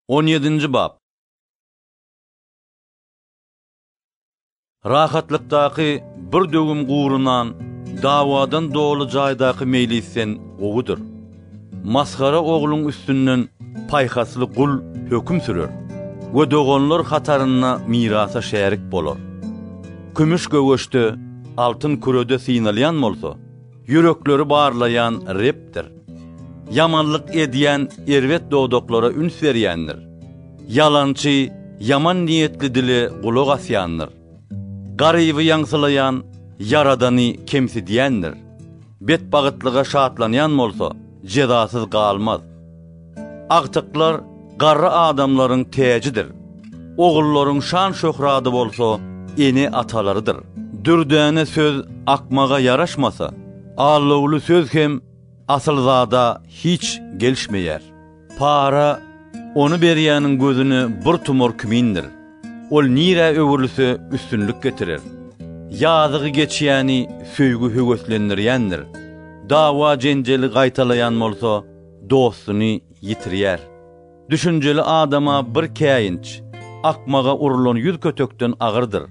On ýedinji bap. Rahatlykdaky bir döwüm gurunan dawadan doly jaýdaky meýlisden gowudyr. Masgara ogluň üstünden paýhasly gul höküm sürer we doganlar hatarynda mirasa şärik bolar. Kümüş göweçde, altyn kürede synalýan bolsa, Ýürekleri barlaýan Rebdir. Ýamanlyk edýän erbet dodaklara üns berýändir. Ýalançy, ýaman niýetli dile gulak asýandyr. Garyby ýaňsylaýan Ýaradany kemsidýändir. Betbagytlyga şatlanýan bolsa, jezasyz galmaz. Agtyklar garry adamlaryň täjidir. Ogullaryň şan-şöhraty bolsa ene-atalarydyr. Dürdäne söz akmaga ýaraşmasa, alawly söz hem asylzada hiç gelişmeýär. Para ony berýäniň gözüne bir tumar kimindir. Ol nirä öwrülse üstünlik getirer. Ýazygy geçýäni söýgi höweslendirýändir. Dawa-jenjeli gaýtalaýan bolsa, dostuny ýitirýär. Düşünjeli adama bir käýinç, akmaga urlan ýüz kötekden agyrdyr.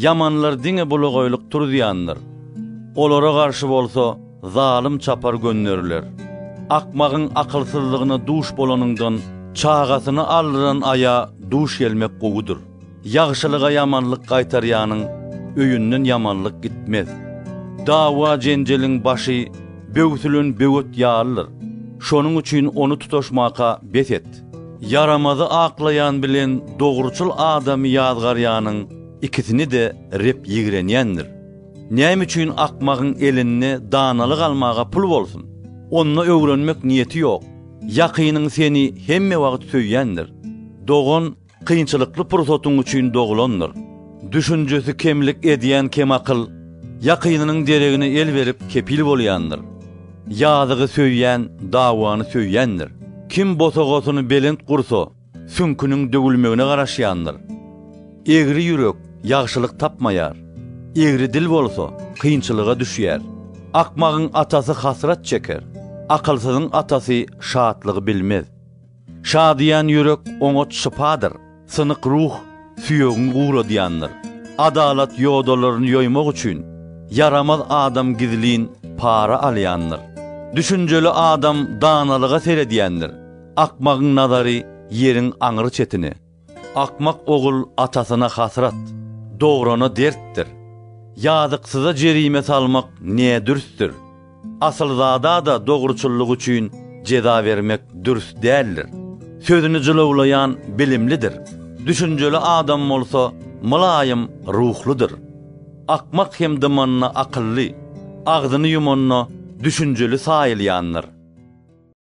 Ýamanlar diňe bulagaýlyk turuzýandyr. Olara garşy bolsa zalym çapar gönderiler. Akmagyň akylsyzlygyna duş bolanyňdan, çagasyny aldyran aýa duş gelmek gowudyr. Ýagşylyga ýamanlyk gaýtarýanyň öýünden ýamanlyk gitmez. Dawa-jenjeliň başy böwsülen böwet ýalydyr. Şonuň üçin ony tutaşmaka bes et. Ýaramazy aklaýan bilen dogruçyl adamy ýazgarýanyň ikisini-de Reb ýigrenýändir. Näme üçin akmagyň elinde danalyk almaga pul bolsun? Onda öwrenmek niýeti ýok. Ýakynyň seni hemme wagt söýýändir. Dogan kynçylykly pursatyň üçin dogulandyr. Düşünjesi kemlik edýän kemakyl ýakynynyň deregine el berip kepil bolýandyr. Ýazygy söýýän dawany söýýändir. Kim bosagasyny belent gursa, süňküniň döwülmegine garaşýandyr. Egri ýürek ýagşylyk tapmaýar. Egri dil bolsa, kynçylyga düşýär. Akmagyň atasy hasrat çeker. Akylsyzyň atasy şatlygy bilmez. Şadyýan ýürek oňat şypadyr. Synyk ruh süýegiňi guradýandyr. Adalat ýodalaryny ýoýmak üçin ýaramaz adam gizlin para alýandyr. Düşünjeli adam danalyga seredýändir. Akmagyň nazary ýeriň aňry çetine. Akmak ogul atasyna hasrat, dograna dertdir. Ýazyksyza jerime salmak ne dürsdür. Asylzada-da dogruçyllygy üçin jeza bermek dürs däldir. Sözüni jylawlaýan bilimlidir. Düşünjeli adam bolsa mylaýym ruhludyr. Akmak hem dymanda akylly, agzyny ýumanda düşünjeli saýylýandyr.